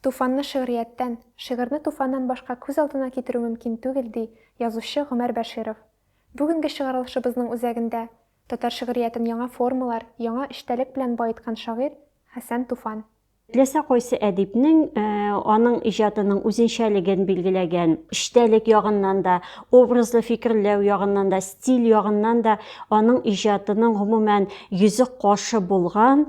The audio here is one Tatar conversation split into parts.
Туфанны шигърияттән, шигырьне туфаннан башка күз алдына китерү мөмкин түгел, ди язучы Гомәр Бәширов. Бүгенге чыгарылышыбызның үзәгендә, татар шигъриятен яңа формалар, яңа эчтәлек белән баеткан шагыйрь Хәсән Туфан. Теләсә кайсы әдипнең аның иҗатының үзенчәлеген билгеләгән, эчтәлек ягыннан да, образлы фикерләү ягыннан да, стиль ягыннан да аның иҗатының, гомумән, йөзе-кашы булган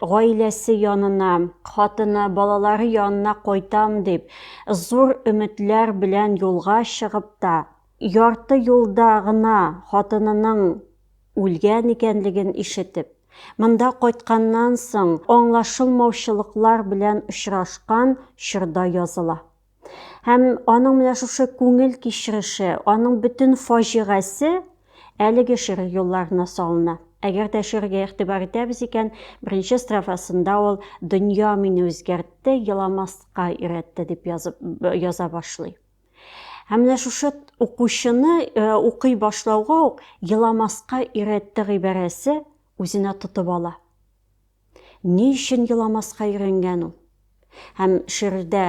гаиләсе янына, хатыны, балалары янына кайтам дип, зур өметләр белән юлга чыгып та, ярты юлда гына хатынының үлгән икәнлеген ишетеп, монда кайтканнан соң аңлашылмаучылыклар белән очрашкан чорда языла. Һәм аның менә шушы күңел кичереше, аның бөтен фаҗигасе әлеге шигырь юлларына салына. Әгәр дә шигырьгә игътибар итәбез икән, беренче строфасында ул дөнья мине үзгәртте, еламаска өйрәтте дип язып яза башлый. Һәм менә шушы укучыны э, укый башлауга ук еламаска өйрәтте гыйбарәсе үзенә тотып ала. Ни өчен еламаска өйрәнгән ул? Һәм шигырьдә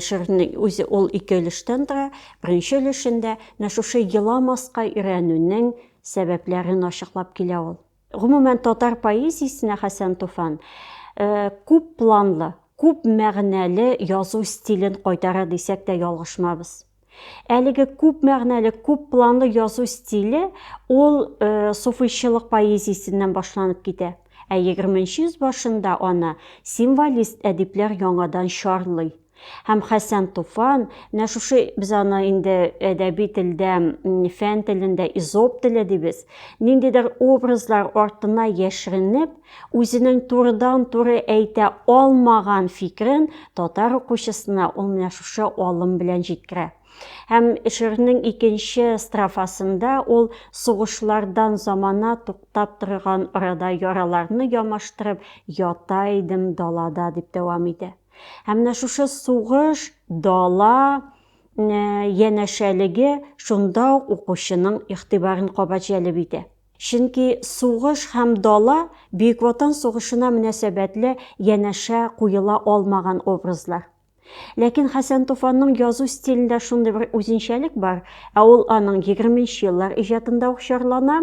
шигырьнең үзе ул ике өлештән тора. Беренче өлешендә менә шушы еламаска өйрәнүнең сәбәпләрен ачыклап килә ул. Гомумән, татар поэзиясенә Хәсән Туфан э, күп планлы, күп мәгънәле язу стилен кайтара дисәк тә ялгышмабыз. Әлеге күп мәгънәле, күп планлы язу стиле ул э, суфыйчылык поэзиясеннән башланып китә. Ә 20 йөз башында аны символист әдипләр яңадан чарлый. Һәм Хәсән Туфан, менә шушы без аны инде әдәби телдә, фән телендә изоп теле дибез. Ниндидер образлар артына яшеренеп, Үзенең турыдан-туры әйтә алмаган фикерен татар укучысына ул менә шушы алым белән җиткерә. Һәм шигырьнең икенче строфасында ул сугышлардан замана туктап торган арада яраларны ямаштырып ята идем далада дип дәвам итә. Һәм менә шушы сугыш, дала янәшәлеге шунда ук укучының игътибарын кабат җәлеп итә. Чөнки сугыш һәм дала, Бөек Ватан сугышына мөнәсәбәтле янәшә куела алмаган образлар. Ләкин Хәсән Туфанның язу стилендә шундый бер үзенчәлек бар, ә ул аның егерменче еллар иҗатында ук чарлана,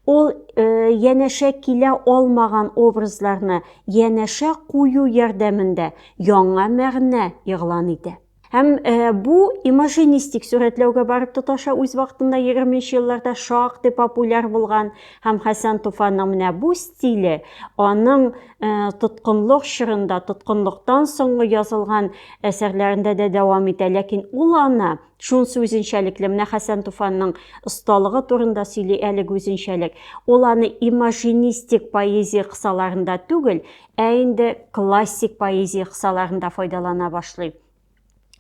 ул янәшә килә алмаган образларны янәшә кую ярдәмендә яңа мәгънә игълан итә. Һәм э, бу имажинистик сурәтләүгә барып тоташа үз вакытында 20 елларда шактый популяр булган һәм Хәсән Туфанның менә бу стиле аның э, тоткынлык чорында, тоткынлыктан соңгы язылган әсәрләрендә дә дәвам итә, ләкин ул аны шунсы үзенчәлекле менә хәсән туфанның осталыгы турында сөйли әлеге үзенчәлек ул аны имажинистик поэзия кысаларында түгел ә инде классик поэзия кысаларында файдалана башлый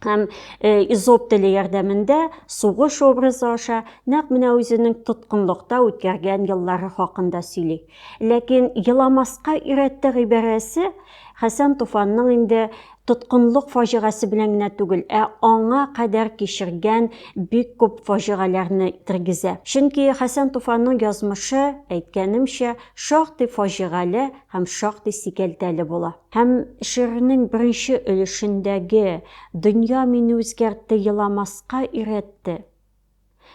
һәм э, изоп теле ярдәмендә сугыш образы аша нәкъ менә үзенең тоткынлыкта үткәргән еллары хакында сөйли. Ләкин еламаска өйрәтте гыйбарәсе Хәсән Туфанның инде тоткынлык фаҗигасе белән генә түгел, ә аңа кадәр кичергән бик күп фаҗигаләрне тергезә. Чөнки Хәсән Туфанның язмышы, әйткәнемчә, шактый фаҗигале һәм шактый сикәлтәле була. Һәм шигырьнең беренче өлешендәге Дөнья мине үзгәртте, еламаска өйрәтте.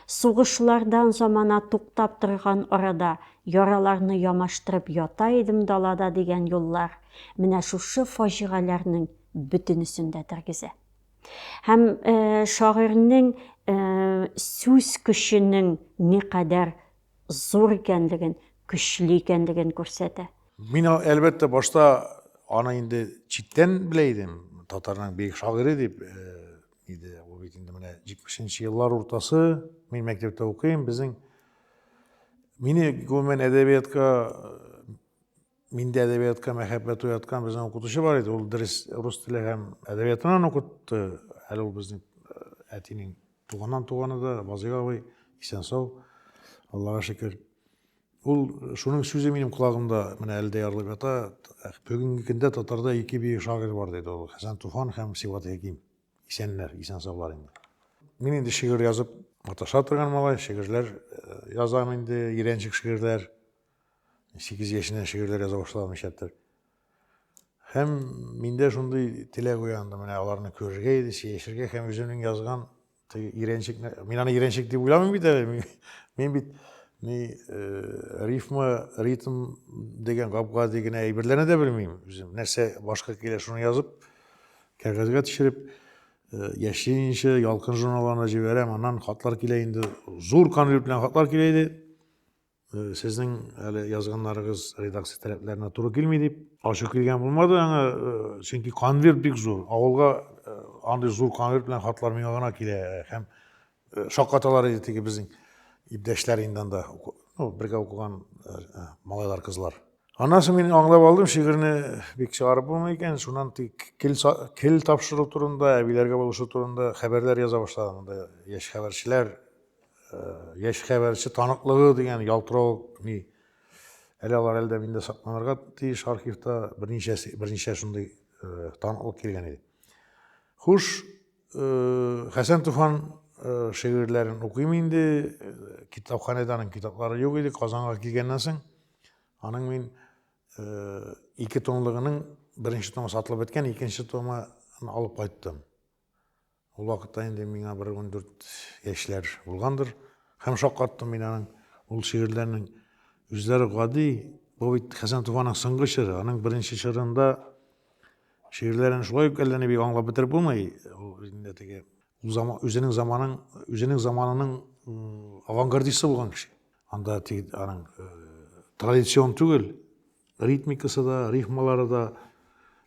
Сугышлардан замана туктап торган арада яраларны ямаштырып ята идем далада дигән юллар менә шушы фаҗигаләрнең бөтенесен дә тергезә. Һәм шагыйрьнең сүз көченең никадәр зур икәнлеген, көчле икәнлеген күрсәтә. Мин, әлбәттә, башта аны инде читтән белә идем, татарның бөек шагыйре дип иде. Ул бит инде менә 70-нче еллар уртасы, мин мәктәптә укыйм, безнең мине гомумән әдәбиятка Миндә әдәбиятка мәхәббәт уяткан безнең укытучы бар иде. Ул дөрес рус теле һәм әдәбиятыннан укытты. Әле ул безнең э, әтинең туганнан туганы да, Вазыйг абый, исән сау, Аллага шөкер. Ул шуның сүзе минем колагымда менә әле дә ярылып ята. Бүгенге көндә татарда ике бөек шагыйрь бар диде ул, Хәсән Туфан һәм Сибгат Хәким. Исәннәр, исән саулар инде. Мин инде шигырь язып маташа торган малай, шигырьләр э, язам инде, Ирәнчек шигырьләр. 8 яшеннән шигырьләр яза башламыйчадыр. Һәм миндә шундый теләк уянды, менә аларны күрергә иде, сөйләшергә һәм үземнең язган иранчик, мин аны иранчик дип уйламыйм бит әле. Мин бит ни э, рифма, ритм дигән габга дигән әйберләрне дә белмим үзем. Нәрсә башка килә, шуны язып, кәгазьгә төшереп, э, яшьлеенчә ялкын журналларына җибәрәм. Аннан хатлар килә инде. Зур конверт белән хатлар килә иде. Э, сезнең әле язганнарыгыз редакция таләпләренә туры килми дип ачу килгән булмады аңа э, чөнки конверт бик зур авылга э, андый зур конверт белән хатлар миңа гына килә һәм шаккаталар иде теге безнең иптәшләр инде анда ну бергә укыган малайлар кызлар аннан соң мин аңлап алдым шигырьне бик чыгарып булмый икән шуннан тик кел, кел тапшыру турында әбиләргә булышу турында хәбәрләр яза башладым анда яшь хәбәрчеләр яшь хәбәрче таныклыгы дигән ялтырау ни әле алар әлдә миндә сакланырга тиеш архивта берничә берничә шундый э, таныклык килгән иде хуш э, хәсән туфан э, шигырьләрен укыйм инде китапханәдә аның китаплары юк иде казанга килгәннән соң аның мин ике томлыгының беренче томы сатылып беткән икенче томы алып кайттым Ул вакытта инде миңа бер ундүрт яшьләр булгандыр. Һәм шаккаттым мин аның ул шигырьләрнең үзләре гади, бу бит Хәсән Туфаның соңгы чоры, аның беренче чорында шигырьләрен шулай ук әллә ни бик аңлап бетереп булмый. Ул инде теге үзенең заманын, үзенең заманының авангардисты булган кеше. Анда тик аның традицион түгел, ритмикасы да, рифмалары да.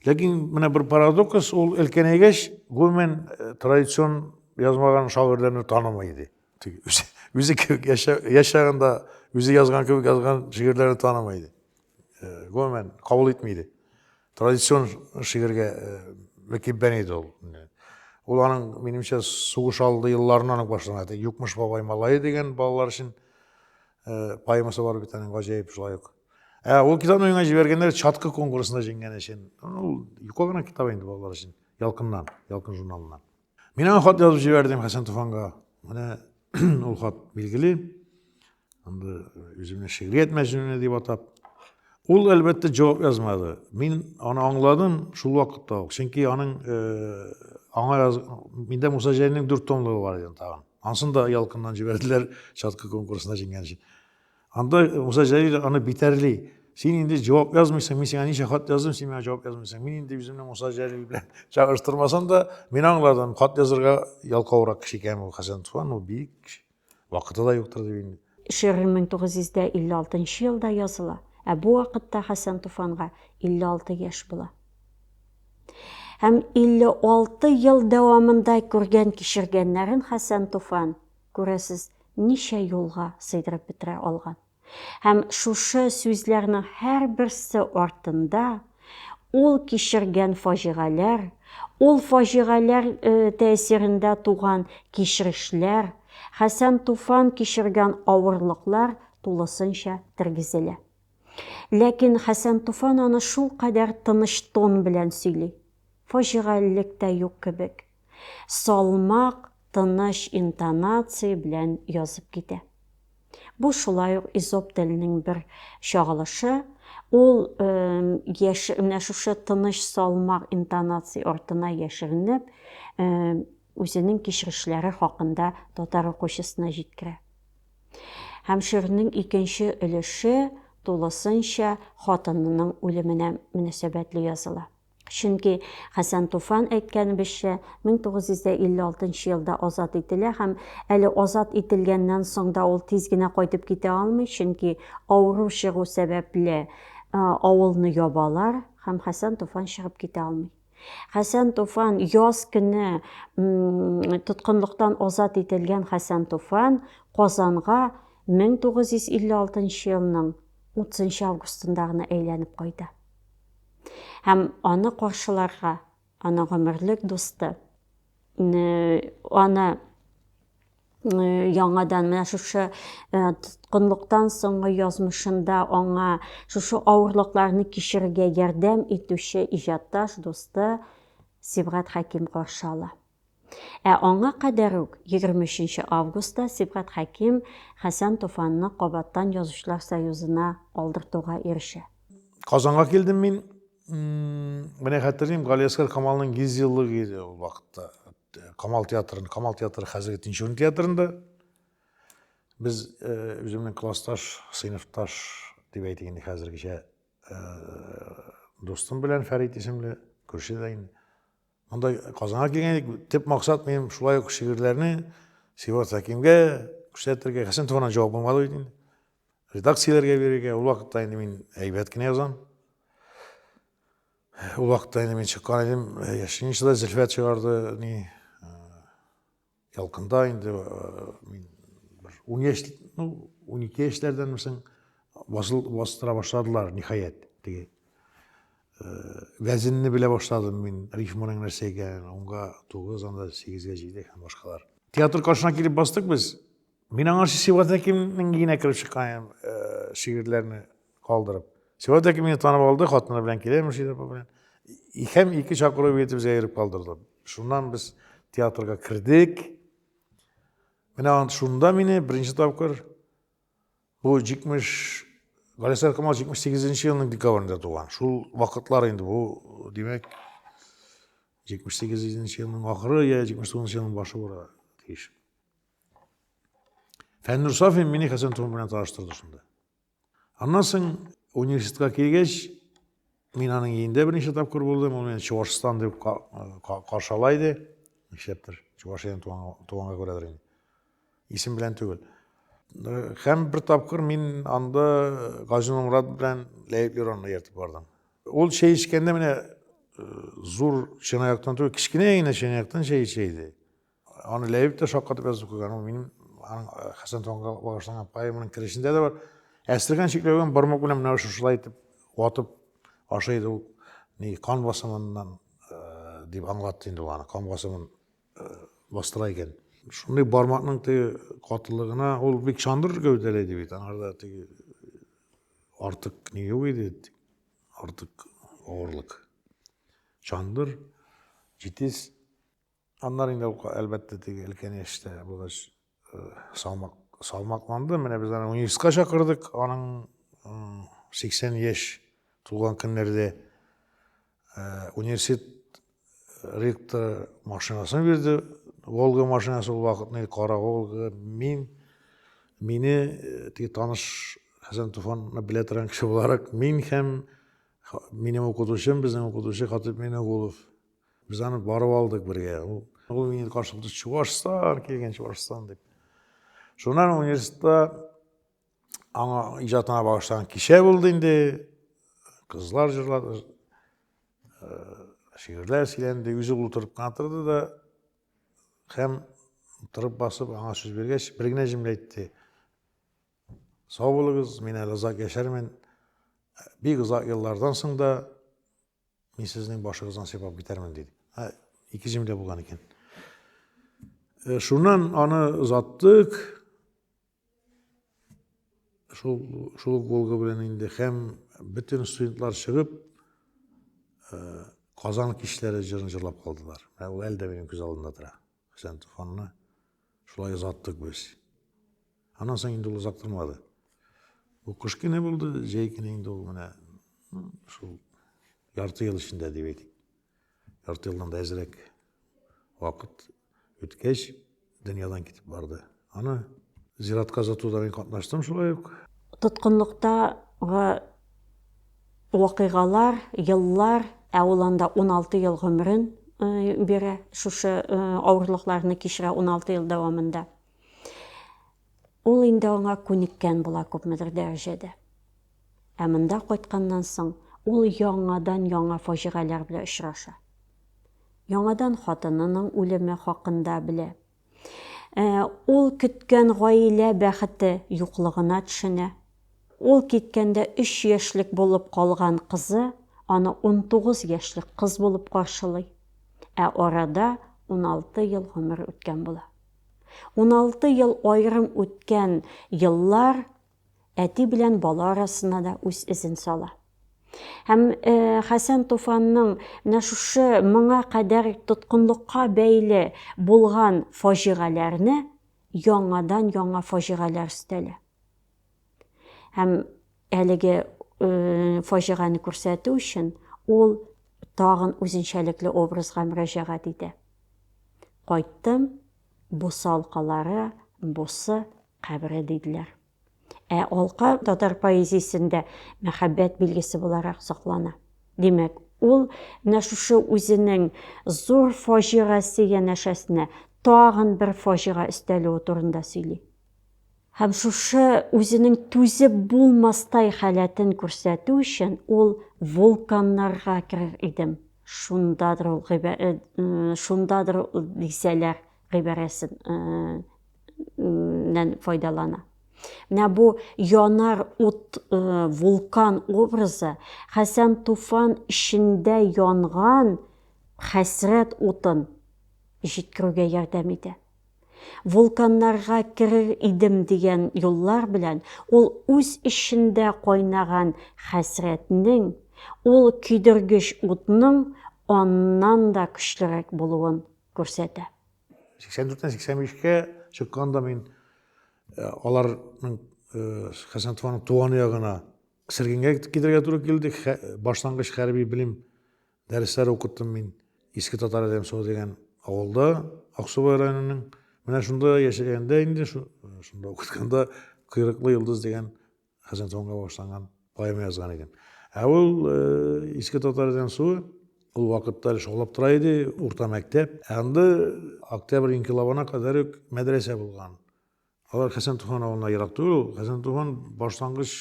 Ләкин менә бер парадокс, ул өлкәнәйгәч, гомумән э, традицион язмаган шагыйрьләрне танымый иде. Үзе кебек яшәгәндә, үзе язган кебек язган шигырьләрне танымый иде. Э, гомумән кабул итми иде. Традицион шигырьгә э, мөкиббән иде ул. Ул аның, минемчә, сугыш алды елларыннан ук башлана. Юкмыш бабай малае дигән балалар өчен поэмасы бар бит аның гаҗәеп шулай ук. Ә ул китапны миңа җибәргәннәр чаткы конкурсында җиңгән өчен. Ул юка гына китап инде балалар өчен. Ялкыннан, Ялкын журналыннан. Мин аңа хат язып җибәрдем Хәсән Туфанга. Менә ул хат билгеле. Анда үземне шигърият мәҗнүне дип атап. Ул, әлбәттә, җавап язмады. Мин аны аңладым шул вакытта ук. Чөнки аның э, аңа яз... миндә Муса Җәлилнең дүрт томлыгы бар иде тагын. Ансын да Ялкыннан җибәрделәр, Чаткы конкурсына җиңгән өчен. Анда Муса Җәлил аны битәрли. Син инде җавап язмыйсың, мин сиңа ничә хат яздым, син миңа җавап язмыйсың. Мин инде үземне Муса Җәлил белән чагыштырмасам да, мин аңладым, хат язырга ялкаурак кеше икән ул Хәсән Туфан, ул бик кеше. Вакыты да юктыр дип инде. Шигырь 1956 елда языла, ә бу вакытта Хәсән Туфанга 56 яшь була. Һәм 56 ел дәвамында күргән-кичергәннәрен Хәсән Туфан Күрәсез, ничә юлга сыйдырып бетерә алган. Һәм шушы сүзләрнең һәрберсе артында ул кичергән фаҗигаләр, ул фаҗигаләр тәэсирендә туган кичерешләр, Хәсән Туфан кичергән авырлыклар тулысынча тергезелә. Ләкин Хәсән Туфан аны шулкадәр тыныч тон белән сөйли. Фаҗигалелек тә юк кебек. салмак, тыныч интонация белән язып китә. Бу шулай ук Эзоп теленең бер чагылышы, ул яшь менә шушы тыныч салмак интонация артына яшеренеп, үзенең кичерешләре хакында татар укучысына җиткерә. Һәм шигырьнең икенче өлеше тулысынча хатынының үлеменә мөнәсәбәтле языла. Чөнки Хәсән Туфан әйткәнебезчә, 1956 елда азат ителә һәм әле азат ителгәннән соң да ул тиз генә кайтып китә алмый, чөнки авыру чыгу сәбәпле авылны ябалар һәм Хәсән Туфан чыгып китә алмый. Хәсән Туфан яз көне тоткынлыктан азат ителгән Хәсән Туфан Казанга 1956 елның 30 августында гына әйләнеп кайта. һәм аны каршыларга, аны гомерлек дусты, аны яңадан менә шушы тоткынлыктан соңгы язмышында аңа шушы авырлыкларны кичерергә ярдәм итүче иҗатташ дусты Сибгат Хәким каршы ала. Ә аңа кадәр үк, егерме өченче августта Сибгат Хәким Хәсән Туфанны кабаттан Язучылар союзына алдыртуга ирешә. Казанга килдем мин. Менә хәтерлим, Галиәсгар Камалның йөз еллыгы иде ул вакытта. Камал театрын, Камал театры хәзерге Тинчурин театрында. Без үземнең классташ, сыйныфташ дип әйтик инде хәзергечә дустым белән Фәрит исемле күрше дә инде. Монда Казанга килгән идек, төп максат минем шулай ук шигырьләрне Сибат Хәкимгә күрсәтергә. Хәсән туганнан җавап булмады бит инде. Редакцияләргә бирергә. Ул вакытта инде мин әйбәт кенә язам. Ул вакытта инде мин чыккан идем. Яшеничада Зөлфәт чыгарды, ни, Ялкында инде мин бер 17, ну, 12 яшьләрдән мисең басыл бастыра башладылар ниһаять. Теге вәзенне белә башладым мин, рифманың нәрсә икәнен, онга 9, анда 8-гә җигдек һәм башкалар. Театр каршына килеп бастык без. Мин аңа Сиват Әкимнең генә кереп чыккан шигырьләрне калдырып. Сиват Әким мине танып алды, хатыны белән килә Мөршидә апа белән. Икәм ике чакыру бирде, безгә йөреп калдырды. Шуннан без театрга кердек. Менә шунда мине беренче тапкыр бу 70 Галисәр Камал 78 елның декабрендә туган. Шул вакытлар инде бу, димәк, 78 елның ахыры я 79 елның башы була тиеш. Фәннур Сафин мине Хәсән Туман белән таныштырды шунда. Аннан соң университетка килгәч, мин аның иендә берничә тапкыр булдым, ул мине Чувашстан дип каршыла иде. Нишләптер, Чувашиян туганга күрәдер инде. Исем белән түгел. Һәм бер тапкыр мин анда Газин Мурат белән Ләйб Юранны ертып бардым. Ул чәй эчкәндә менә зур чынаяктан түгел, кечкенә генә чынаяктан чәй эчә иде. Аны Ләйб тә шаккатып язып куйган. Ул минем аның э, Хәсән Тонга багышланган поэманың керешендә дә бар. Әстерхан чикләгән бармак белән менә шушылай итеп ватып ашый иде ул. Ни кан басымыннан э, дип аңлатты инде ул аны. Кан басымын э, бастыра икән. Шундый бармакның теге катылыгына ул бик чандыр гәүдәле иде бит. Аңарда теге артык ни юк иде. Артык авырлык. Чандыр, җитез Аннары инде ул, әлбәттә, теге өлкән яшьтә булгач, салмак, салмакланды. Менә без аны университетка чакырдык. Аның 80 яшь тулган көннәрдә университет ректор машинасын бирде. Волга машинасы ул вакытны кара Волга. Мин мине теге таныш Хәсән Туфанны белә торган кеше буларак, мин һәм минем укытучым, безнең укытучы Хатып Минегулов Без аны барып алдык бергә. Ул, ул мине каршылыкта чуашстан килгән чуашстан дип. Шуннан университетта аңа иҗатына багышланган кичә булды инде. Кызлар җырлады. Э, шигырьләр сөйләнде, үзе утырып кына торды да һәм торып басып аңа сүз биргәч, бер генә җөмлә әйтте. Сау булыгыз, мин әле озак яшәрмен. Бик озак еллардан соң да Мин сезнең башыгыздан сыйпап китәрмен, диде. Ә ике җимдә булган икән. Э, шуннан аны озаттык. Шул шул голга белән инде һәм бөтен студентлар чыгып э, Казан кичләре җырын җырлап калдылар. Ә ул әле дә минем күз алдында тора. Хәсән Туфанны шулай озаттык без. Аннан соң инде ул озак тормады. Ул кыш көне булды, җәй көне инде ул менә шул ярты ел эчендә дип әйтик. Ярты елдан да әзрәк вакыт үткәч, дөньядан китеп барды. Аны зиратка озатуда мин катнаштым шулай ук. Тоткынлыктагы вакыйгалар, еллар, ә ул анда 16 ел гомерен бирә, шушы авырлыкларны кичерә 16 ел дәвамында. Ул инде аңа күнеккән була күпмедер дәрәҗәдә. Ә монда кайтканнан соң ул яңадан яңа фаҗигаләр белән очраша. Яңадан хатынының үлеме хакында белә. Ә, ул көткән гаилә бәхете юклыгына төшенә. Ул киткәндә өч яшьлек булып калган кызы аны унтугыз яшьлек кыз булып каршылый. Ә арада уналты ел гомер үткән була. Уналты ел аерым үткән еллар әти белән бала арасына да үз эзен сала. Һәм э, Хәсән Туфанның менә шушы моңа кадәр тоткынлыкка бәйле булган фаҗигаләрне яңадан яңа фаҗигаләр өстәлә. Һәм әлеге э, фаҗиганы күрсәтү өчен ул тагын үзенчәлекле образга мөрәҗәгать итә. Кайттым, бусалкалары, бусы кабере диделәр. Ә алка татар поэзиясендә мәхәббәт билгесе буларак саклана. Димәк, ул менә шушы үзенең зур фаҗигасе янәшәсенә тагын бер фаҗига өстәлүе турында сөйли. Һәм шушы үзенең түзеп булмастай халәтен күрсәтү өчен ул вулканнарга керер идем, шундадыр ул э, шундадыр дисәләр гыйбарәсен нән файдалана. Менә бу янар ут вулкан образы Хәсән Туфан эчендә янган хәсрәт утын җиткерүгә ярдәм итә. Вулканнарга керер идем дигән юллар белән ул үз эчендә кайнаган хәсрәтнең, ул көйдергеч утның аннан да көчлерәк булуын күрсәтә. 84-тән 85-кә чыкканда мин э, аларның э, Хәсәнтованың туган ягына Сергенгә китергә туры килде. Башлангыч хәрби белем дәресләре укыттым мин Иске Татар Әлемсуы дигән авылда, Аксубай районының. Менә шунда яшәгәндә инде, шунда укытканда Койрыклы йолдыз дигән Хәсән Тонга башланган поэма язган идем. Ә ул э, Иске татардан суы ул вакытта әле шаулап тора иде, урта мәктәп. Ә анда октябрь инкилабына кадәр үк мәдрәсә булган. Алар Хәсән Туфан авылына ерак түгел. Хәсән Туфан башлангыч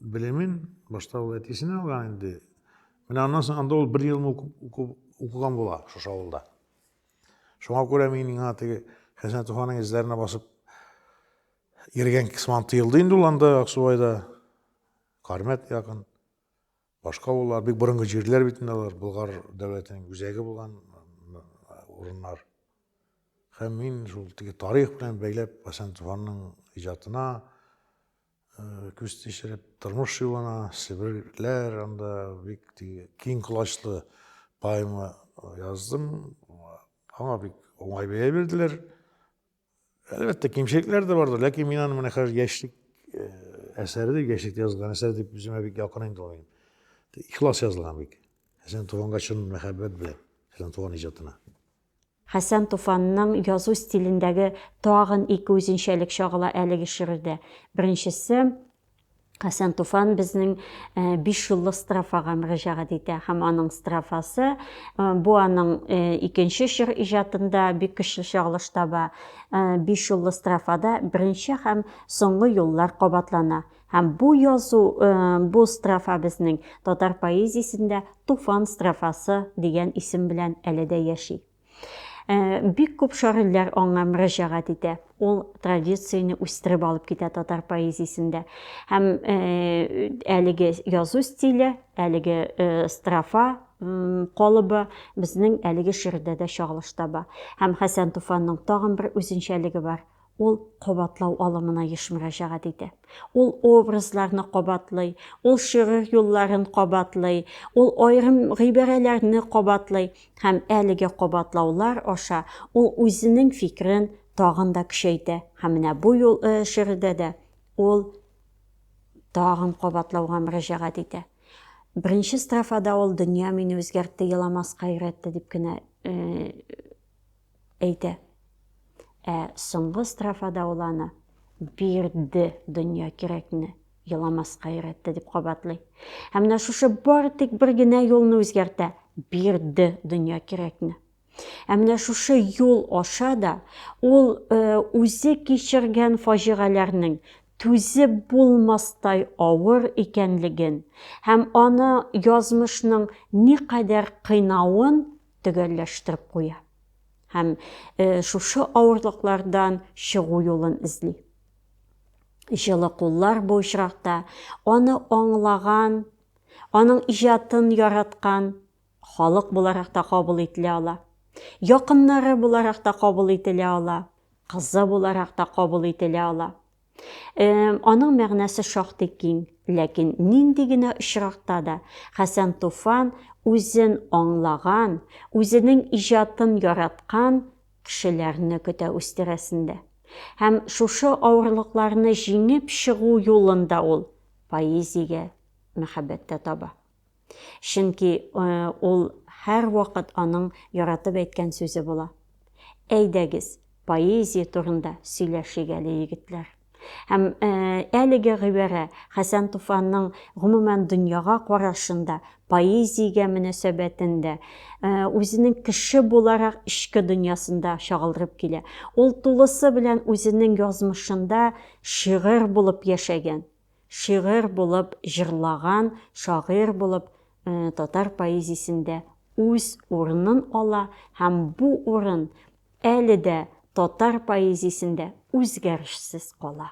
белемен башта ул әтисенә алган инде. Менә аннан соң анда ул бер ел укыган була шушы авылда. Шуңа күрә мин миңа теге Хәсән Туфанның эзләренә басып Йөргән кысман тыелды инде ул анда Аксубайда. Кармәт якын. Башка авыллар, бик борынгы җирләр бит инде алар, Болгар дәүләтенең үзәге булган урыннар. Һәм мин шул теге тарих белән бәйләп Хәсән Туфанның иҗатына күз тишереп, тормыш юлына, Себерләр анда бик теге киң колачлы поэма яздым. Аңа бик уңай бәя бирделәр. Әлбәттә, кимчелекләр дә бардыр, ләкин мин аны менә хәзер яшьлек э, әсәре дип, яшьлектә язылган әсәр дип үземә бик якын инде ул. Ихлас язылган бик. Хәсән Туфанга чын мәхәббәт белән, Хәсән Туфан иҗатына. Хәсән Туфанның язу стилендәге тагын ике үзенчәлек чагыла әлеге шигырьдә. Беренчесе, Хәсән Туфан безнең биш юллы строфага мөрәҗәгать итә һәм аның строфасы бу аның икенче чор иҗатында бик көчле чагылыш таба. Биш юллы строфада беренче һәм соңгы юллар кабатлана. Һәм бу язу, э, бу строфа безнең татар поэзиясендә Туфан строфасы дигән исем белән әле дә яши. Бик күп шагыйрьләр аңа мөрәҗәгать итә. Ул традицияне үстереп алып китә татар поэзиясендә. Һәм әлеге язу стиле, әлеге строфа калыбы безнең әлеге шигырьдә дә чагылыш таба. Һәм Хәсән Туфанның тагын бер үзенчәлеге бар. Ул кабатлау алымына еш мөрәҗәгать итә. Ул образларны кабатлый, ул шигырь юлларын кабатлый, ул аерым гыйбарәләрне кабатлый һәм әлеге кабатлаулар аша ул үзенең фикерен тагын да көчәйтә һәм менә бу юл шигырьдә дә ул тагын кабатлауга мөрәҗәгать итә. Беренче строфада ул дөнья мине үзгәртте, еламаска өйрәтте дип кенә Әйтә. Ә соңгы строфада ул аны бирде дөнья кирәкне, еламаска өйрәтте дип кабатлый. Һәм менә шушы бары тик бер генә юлны үзгәртә, бирде дөнья кирәкне. Ә менә шушы юл аша да ул э, үзе кичергән фаҗигаләрнең түзеп булмастай авыр икәнлеген һәм аны язмышның никадәр кыйнавын төгәлләштереп куя һәм шушы авырлыклардан чыгу юлын эзли. Җылы куллар бу очракта аны аңлаган, аның иҗатын яраткан халык буларак та кабул ителә ала. Якыннары буларак та кабул ителә ала, кызы буларак та кабул ителә ала. Аның мәгънәсе шактый киң, ләкин нинди генә очракта да Хәсән Туфан үзен аңлаган, үзенең иҗатын яраткан кешеләрне көтә үз тирәсендә. Һәм шушы авырлыкларны җиңеп чыгу юлын да ул поэзиягә мәхәббәттә таба. Чөнки ул һәрвакыт аның яратып әйткән сүзе була. Әйдәгез, поэзия турында сөйләшик әле, егетләр. Һәм әлеге гыйбарә Хәсән Туфанның гомумән дөньяга карашын да, поэзиягә мөнәсәбәтен дә, үзенең кеше буларак эчке дөньясында чагылдырып килә. Ул тулысы белән үзенең язмышында шигырь булып яшәгән. шигырь булып җырлаган шагыйрь булып татар поэзиясендә үз урынын ала һәм бу урын әле дә татар поэзиясендә үзгәрешсез кала.